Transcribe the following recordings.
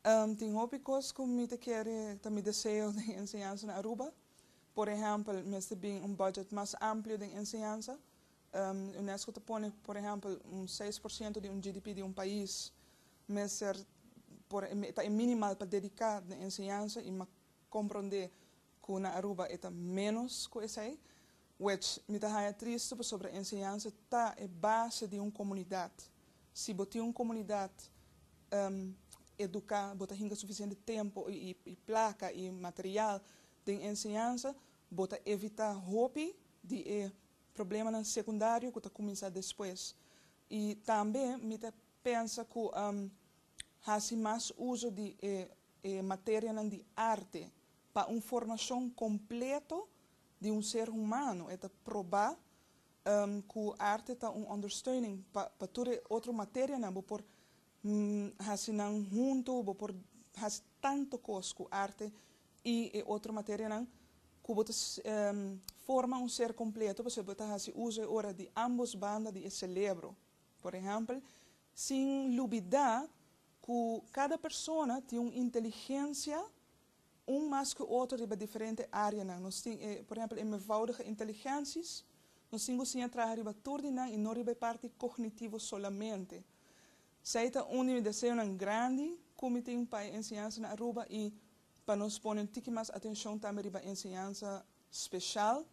Ehm, tin hopi cos cu mi ta kere, ta mi deseo den enseñansa na Aruba. Por ehempel, mester bin un budget mas amplio den enseñansa. Ehm, Unesco ta pone, por ehempel, un seis por ciento di un GDP di un pais mester, por, ta e minimal pa dedica den enseñansa y ma compronde Cu na Aruba e ta menos cu esey. Wech, mi ta haya triste pasobra enseñansa ta e base di un comunidad. Si bo tin un comunidad educa, bo ta hinca suficiente tempo y placa y material den enseñansa, bo ta evita hopi di e problemanan secundario cu ta cuminsa despues. Y tambe mi ta pensa cu haci mas uzo di e materianan di arte. Pa un formacion completo di un ser humano, e ta proba cu arte ta un understeuning pa pa tur e otro materianan, bo por haci nan hunto, bo por haci tanto cos cu arte y e otro materianan cu bo ta forma un ser completo pasobra bo ta haci uzo e ora di ambos banda di e celebro. Por ehempel, sin lubida cu cada persona tin un inteligencia Un mas ku otro riba diferente áreanan. Nos tin e, por ehèmpel, e mevoudige inteligensies. Nos tin ku siña traha riba tur di nan i no riba e parti kognitivo solamente. Sei ta un di mi deseonan grandi ku mi tin pa e enseñansa na Aruba i pa nos pone un tiki mas atenshon tambe riba enseñansa speshal,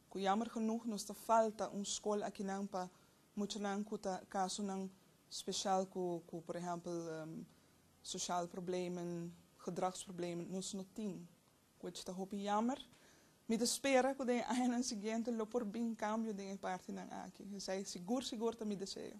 ku yammer genoeg nos ta falta un skol akinan pa muchanan ku ta kasonan speshal ku, ku por ehèmpel, Sosial problemen, gedragsproblemen nos no tin, which ta hopi jammer. Mi ta spera cu den e añanan siguiente lo por bin cambio den e partinan aki. Esey sigur sigur ta mi deseo.